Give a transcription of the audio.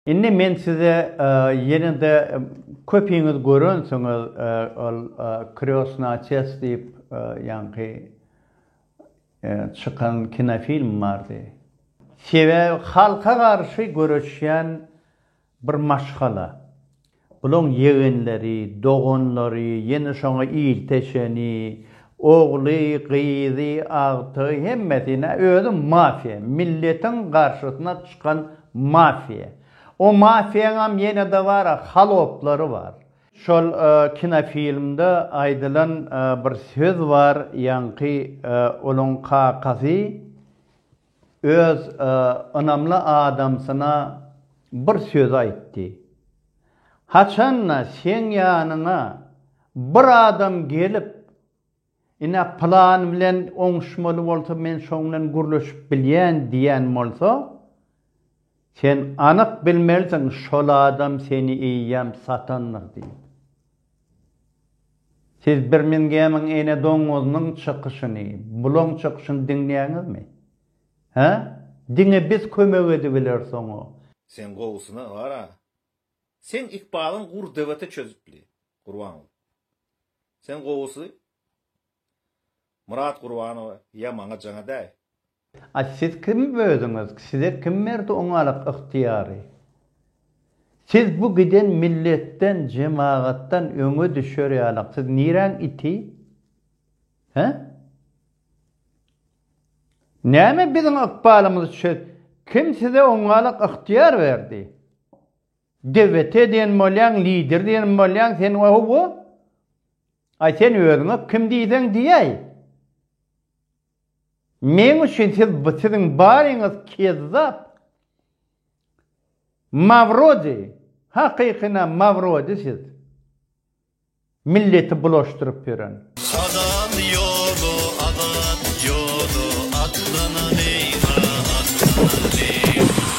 Indi men size ýene-de köpiňiz görensiňiz ol Krýosny otec diýip ýaňky çykan kinofilm bardy. Sebäbi halka garşy göreşýän bir maşgala. Bulaň ýegenleri, doganlary, ýene şoňa ilteşeni, ogly, gyzy, agtygy hemmesi nä özi mafiýa, milletiň garşysyna çykan mafiýa. O mafiýaňam ýene-de bar-a haloplary bar. Şol kinofilmde aýdylan bir söz bar, ýaňky olaň kakasy. Öz ynamly adamsyna bir söz aýtdy. Haçan-da seň ýanyňa bir adam gelip, Ine, pylan bilen oňuşmaly bolsa, men şoň bilen gürleşip bilýän diýen bolsa, Sen anyk bilmelisiň şol adam seni eýýäm satandyr diýip. Siz Birmingemiň ene doňňuzynyň çykyşyny, bulaň çykyşyny diňleýäňizmi? Hä? Diňe biz kömek edibileris oňa. Sen gowusyna bar-a. Seň ykbalyň gurr dewete çözüpli. Gurban bolup. Sen gowusy, Myrat Gurbanowa ýa maňa jaňa däý. Aý siz kim özüňiz size kim berdi oňalyk ygtyýary? Siz bu giden milletden jemagatdan öňe düşer ýalyk siz niräň iti? He? Näme biziň ykbalymyzy çöz kim size oňalyk ygtyýar berdi? Dewete diýen bolýaň lider diýen bolýaň sen ohowo. Aý sen özüňe kim diýseň diýäý. Meň üçin siz bu siziň baryňyz kezzap. Mawrodi, hakykyna mawrodi siz. Milleti bulaşdyryp ýören. Azat ýoly azat ýoly atlanan eýga atlanan eýga.